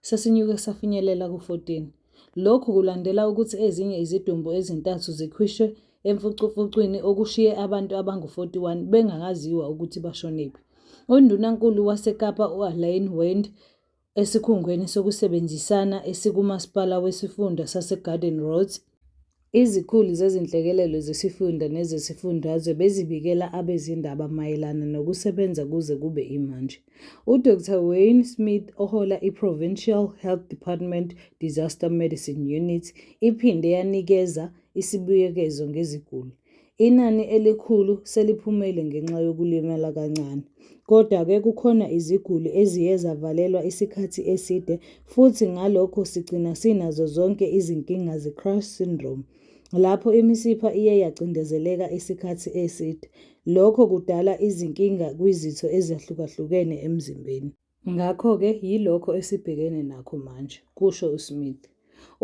sesinyuke safinyelela ku-14. Lokhu kulandela ukuthi ezinye izidumbu ezintathu zikhwishwe emfucumfucwini okushiye abantu abangu-41 bengakaziwa ukuthi bashonephi. UNdunankulu waseKapa u-Alain Wend esikhungweni sokusebenzisana esikuMasipala wesiFunda saseGarden Roads Izikhulu zezinhlekelele zesifunda nezesifundazwe bezibikela abezindaba mayelana nokusebenza kuze kube imanje. UDr Wayne Smith ohola iProvincial Health Department Disaster Medicine Unit iphinde yanikeza isibuyekezo ngeziguli. Inani elikhulu seliphumile ngenxa yokulimala kancane. Kodwa-ke kukhona iziguli eziye zavalelwa isikhathi eside futhi ngalokho sigcina sinazo zonke izinkinga ze-crash syndrome, lapho imisipha iye yacindezeleka isikhathi eside. Lokho kudala izinkinga kwizitho ezahlukahlukene emzimbeni. Ngakho-ke yilokho esibhekene nakho manje, kusho uSmith.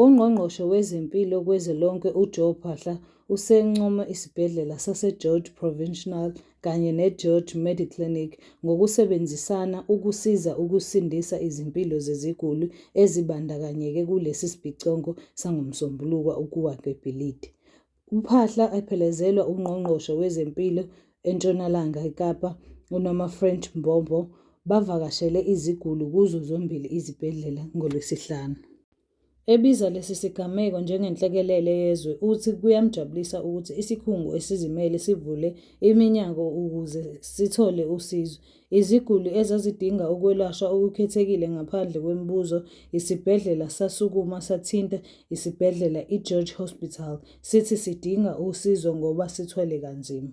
UNgqongqoshe wezeMpilo kwezwe lonke uJoe Phaahla usencome isibhedlela saseGeorge Provincial kanye neGeorge Mediclinic ngokusebenzisana ukusiza ukusindisa izimpilo zeziguli ezibandakanyeke kulesi sibhicongo sangoMsombuluko ukuwa kwebhilidi UMphaahla ephelezelwa uNgqongqoshe wezeMpilo eNtshonalanga Kapa uNomafrent Mbombo bavakashele iziguli kuzo zombili izibhedlela ngoLwesihlanu. Ebiza lesi sigameko njengenhlekelele yezwe uthi kuyamjabulisa ukuthi isikhungo esizimele sivule iminyango ukuze sithole usizo Iziguli ezazidinga ukwelashwa okukhethekile ngaphandle kwemibuzo, isibhedlela sasukuma sathinta isibhedlela iGeorge Hospital sithi sidinga usizo ngoba sithwele kanzima.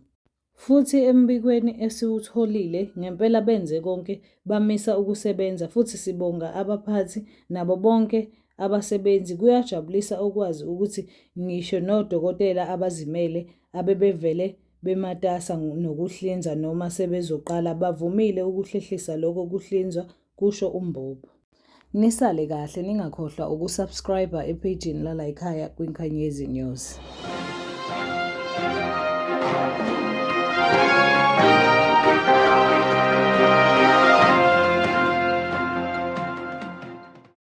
Futhi embikweni esiwutholile, ngempela benze konke bamisa ukusebenza futhi sibonga abaphathi nabo bonke abasebenzi. Kuyajabulisa ukwazi ukuthi ngisho nodokotela abazimele abebevele bematasa nokuhlinzwa noma sebezoqala bavumile ukuhlehlisa lokho kuhlinzwa, kusho uMbobo. Nisale kahle ningakhohlwa ukusubscriber ephejini lalayikhaya kwiNkanyezi News.